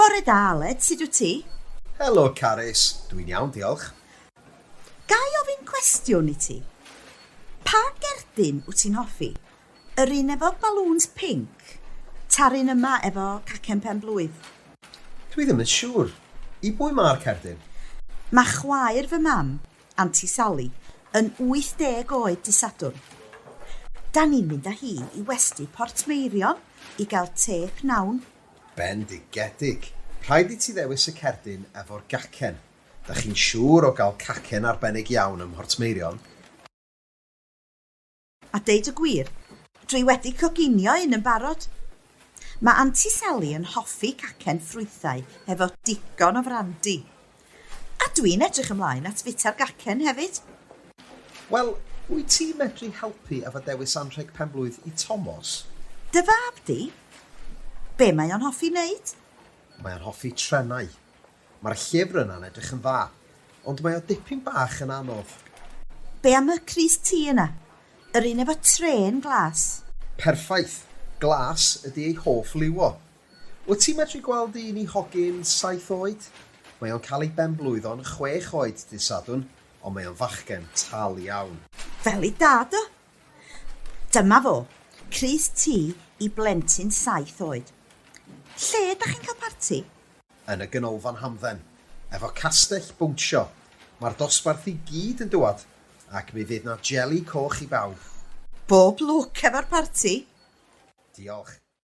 Bore da Aled, sut wyt ti? Helo Carys, dw i'n iawn diolch. Ga i ofyn cwestiwn i ti? Pa gerdyn wyt ti'n hoffi? Yr un efo balŵns pinc, ta'r un yma efo cacen pen blwydd? Dw i ddim yn siŵr. I bwy mae'r cerdyn? Mae chwaer fy mam, Anti Sally, yn 80 oed dy Sadwrn. Da ni'n mynd â hi i westy Portmeirion i gael te pnawn Bendigedig! Rhaid i ti ddewis y cerdyn efo'r gacen. Dach chi'n siŵr o gael cacen arbennig iawn ym Mhortmeirion? A deud y gwir, dwi wedi coginio un yn barod. Mae Anti Sally yn hoffi cacen ffrwythau hefo digon o frandi. A dwi'n edrych ymlaen at fita'r gacen hefyd! Wel, wyt ti'n medru helpu efo dewis anrheg penblwydd i Tomos? Dy fab di? Be mae o'n hoffi wneud? Mae o'n hoffi trenau. Mae'r llyfr yna'n edrych yn dda, ond mae o dipyn bach yn anodd. Be am y crys ti yna? Yr un efo trên glas? Perffaith! Glas ydi ei hoff liw o. Wyt ti'n medru gweld un i hogyn saith oed? Mae o'n cael ei benblwyddo'n chwech oed dydd Sadwrn, ond mae o'n fachgen tal iawn. Fel ei dad o! Dyma fo, crys T i blentyn saith oed. Lle ydach chi'n cael parti? Yn y Ganolfan Hamdden, efo castell bownsio. Mae'r dosbarth i gyd yn dŵad, ac mi fydd 'na jeli coch i bawb. Bob lwc efo'r parti! Diolch.